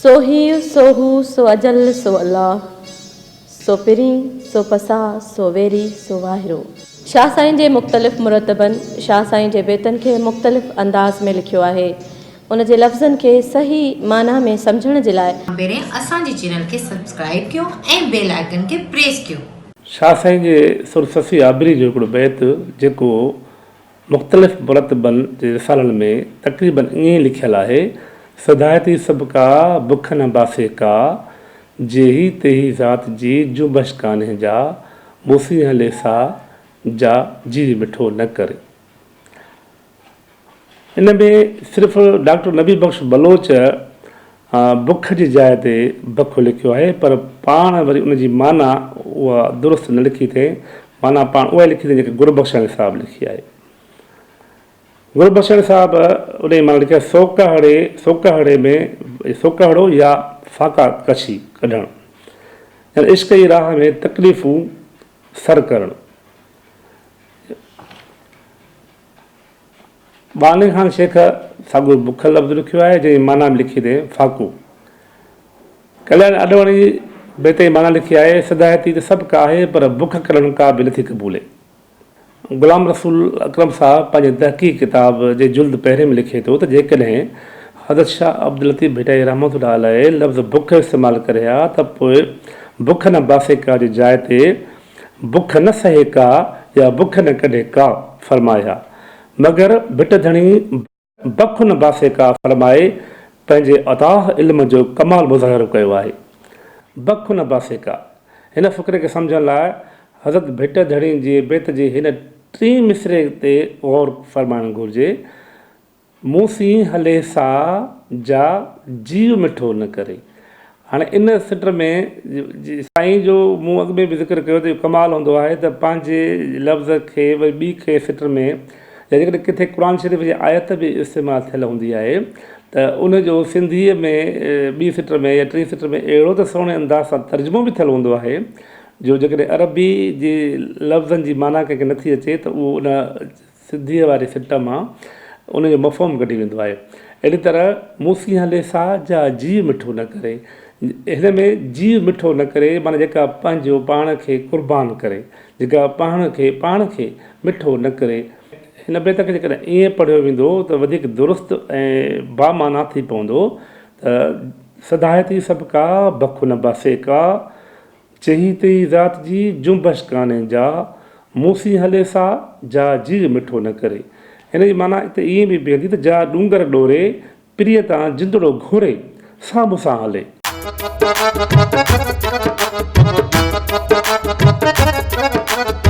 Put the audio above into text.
سو هي، سو هو، سو اجل، سو الله، سو پرين، سو پساء، سو ويري، سو واهرو. شاهه سائين جي مختلف مرتبن شاهه سائين جي بيتن کي مختلف انداز ۾ لکيو آهي. ان جي لفظن کي صحيح معنيٰ ۾ سمجهڻ جي لاء. کان پهرين اسان جي چينل کي سبسڪرائيب ڪيو ۽ بيل آئيڪن کي پريس ڪيو. شاهه سائين جي سر سسي آبري جو هڪڙو بيت جيڪو. مختلف مرتبن جي رسالن ۾ تقريباً ائين ئي لکيل آهي، سڌائي ٿي سڀ ڪا، بک نه باسي ڪا، جيهي تيهي ذات جي جنبش ڪانهي جا، موسي هلي سا جا، جيري مٺو نه ڪري. ان ۾ صرف ڊاڪٽر نبي بخش بلوچ بک جي جاء تي بکو لکيو آهي پر پاڻ وري ان جي معنيٰ اها درست نه لکي اٿئين، معنيٰ پاڻ اها ئي لکي اٿئين جيڪا گربخشاڻي صاحب لکي آهي. گربخشاڻي صاحب ان جي معنيٰ لکي آهي سوڪهڙي، سوڪهڙي ۾، سوڪهڙو يا فاقا ڪشي ڪڍڻ، يعني عشق جي راهه ۾ تڪليفون سر ڪرڻ. ٻانهي خان شيخ ساڳيو بک لفظ رکيو آهي، جنهن جي معنيٰ به لکي اٿئي، فاقو. ڪلياڻ آڏواڻيء جي بيت جي معنيٰ لکي آهي، سڌائتي ته سڀ ڪا آهي، پر بک ڪرڻ ڪا به نٿي قبولي. غلام رسول اڪرم صاحب پنهنجي تحقيق ڪتاب جي جلد پهرين ۾ لکي ٿو ته جيڪڏهن حضرت شاهه عبداللطيف ڀٽائي رحمة الله عليه لفظ بک استعمال ڪري ها ته پوء بک نه باسيڪا جي جاء تي بک نه سهي ڪا يا بک نه ڪڍي ڪا فرمايا مگر ڀٽ ڌڻي بک نه باسي ڪا فرمائي پنهنجي اتاه علم جو ڪمال مظاهرو ڪيو آهي. بک نه باسي ڪا. هن فقري کي سمجهڻ لاء حضرت ڀٽ ڌڻي جي بيت جي هن ٽين مصرعي تي غور فرمائڻ گهرجي. مون سين هلي سا جا جيء مٺو نه ڪري. هاڻي ان سٽ ۾ سائين جو مون اڳ ۾ به ذڪر ڪيو ته اهو ڪمال هوندو آهي ته پنهنجي لفظ کي وري ٻي کي سٽ ۾ يا جيڪڏهن ڪٿي قرآن شريف جي آيت به استعمال ٿيل هوندي آهي ته ان جو سنڌيء ۾ ٻي سٽ ۾ يا ٽين سٽ ۾ اهڙو ته سهڻي انداز سان ترجمو به ٿيل هوندو آهي جو جيڪڏهن عربي جي لفظن جي معنيٰ ڪنهن کي نٿي اچي ته اهو ان سنڌيء واري سٽ مان ان جو مفهوم ڪڍي ويندو آهي. اهڙي طرح موسي هلي سا جا جيء مٺو نه ڪري. هن ۾ جيء مٺو نه ڪري معنيٰ جيڪا پنهنجو پاڻ کي قربان ڪري، جيڪا پاڻ کي پاڻ کي مٺو نه ڪري. هن بيت کي جيڪڏهن ائين پڙهيو ويندو ته وڌيڪ درست ۽ بامعنيٰ ٿي پوندو ته سداهتي سڀڪا بک نه باسيڪا. چيهي تي ئي ذات جي جنبش ڪانهي جا مون سين هلي سا جا جيء مٺو نه ڪري. هن جي معنيٰ اتي ائين به بيهندي ته جا ڏونگر ڏوري، پرينء تان جندڙو گهوري، سا مون سان هلي.